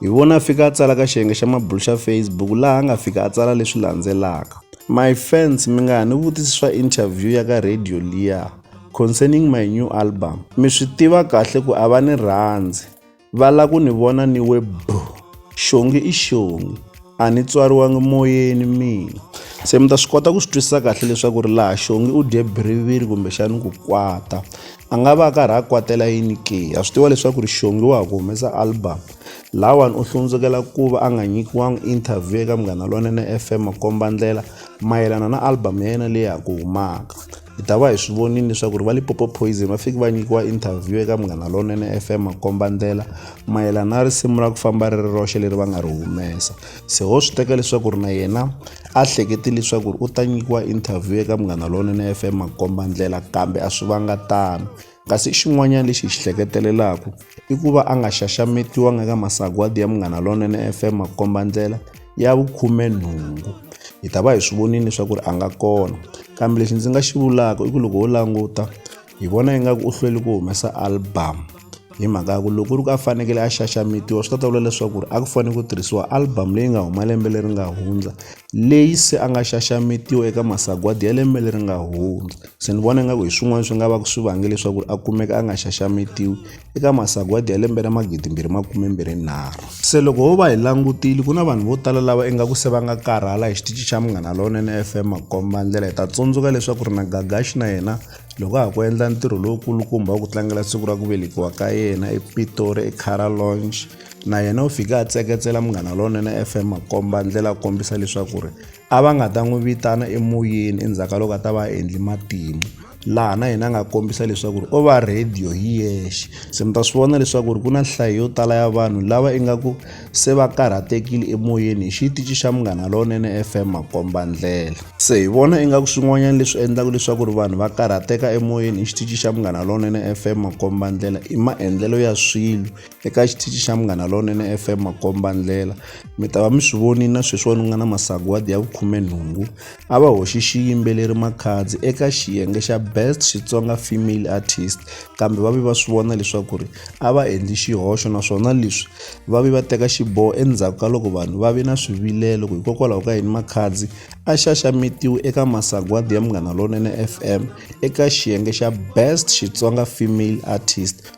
Hi vona a fika a tsala ka xiyenge xa mabulu xa Facebook laha a nga fika a tsala leswi landzelaka. My fans mi nga ha ni vutisi swa interview ya ka radio liya concerning my new album. Mi swi tiva kahle ku a va ni rhandzi. Va la ku ni vona ni we boo. Xongi i xongi. A ni tswariwangi moyeni mina. Se mi ta swi kota ku swi twisisa kahle leswaku ri laha xongi u dye biriviri kumbexani ku kwata. a nga va a karhi a kwatela yini ke a swi tiva leswaku ri xongi wa ha ku humesa album lawani u hlundzukela ku va a nga nyikiwangi interview eka munghana lonene fm komba ndlela mayelana na album ya yena leyi ha ku humaka hi ta va hi swi vonile leswaku ri va lipopo poison va fiki va nyikiwa interview eka munghana lonene fm komba ndlela mayelana na risimu ra ku famba ri ri roxe leri va nga ri humesa se ho swi teka leswaku ri na yena a hlekete leswaku ri u ta nyikiwa interview eka munghana lonene fm makomba ndlela kambe a swi vanga tano kasi xin'wanyana lexi hi xi hleketelelaku i ku va a nga xaxametiwanga eka masagwadi ya munghana lonene fm makomba ndlela ya vukhume nhungu hi ta va hi swi vonile leswaku ri a nga kona kambe lexi ndzi nga xi vulaka i ku loko ho languta hi vona ingaku u hlweli ku humesa album hi mhaka ya ku loko ri ku a fanekele a xaxametiwa swi ta ta vula leswaku ri a ku fanele ku tirhisiwa album leyi nga huma lembe leri nga hundza leyi se a nga xaxametiwa eka masagwadi ya lembe leri nga hundza se ni vona ingaku hi swin'wana swi nga va ku swi vange leswaku ri a kumeka a nga xaxametiwi eka masagwadi ya lembe ra magidi mbirhi makume mbirhi nharhu se loko ho va hi langutile ku na vanhu vo tala lava ingaku se va nga karhala hi xitici xa munghana lowunene fm makomba ndlela hi ta tsundzuka leswaku ri na gagaxi na yena loko a ha ku endla ntirho lowukulukumba wa ku tlangela siku ra ku velekiwa ka yena epitori ecara launch na yena u fike a tseketsela munghana lonene fm makomba ndlela a kombisa leswaku ri a va nga ta n'wi vitana emoyeni endzhaku ka loko a ta va a endli matimu laha na yena a nga kombisa leswaku ri o va rhediyo hi yexe se mi ta swi vona leswaku ri ku na nhlayo yo tala ya vanhu lava ingaku se va karhatekile emoyeni hi xitici xa Munghana Lowunene FM Makombandlela. Se hi vona ingaku swin'wanyana leswi endlaka leswaku ri vanhu va karhateka emoyeni hi xitici xa Munghana Lowunene FM Makombandlela i maendlelo ya swilo eka xitici xa Munghana Lowunene FM Makombandlela. Mi ta va mi swi vonile na sweswiwani ku nga na masagwadi ya vukhumenhungu a va hoxi xiyimbeleri makhadzi eka xiyenge xa best xitsonga female artist kambe va ve va swi vona leswaku ri a va endli xihoxo naswona leswi va ve va teka xiboho endzhaku ka loko vanhu va ve na swivilelo ku hikokwalaho ka yini makhadzi a xaxametiwe eka masagwadi ya munghana lonene fm eka xiyenge xa best xitsonga female artist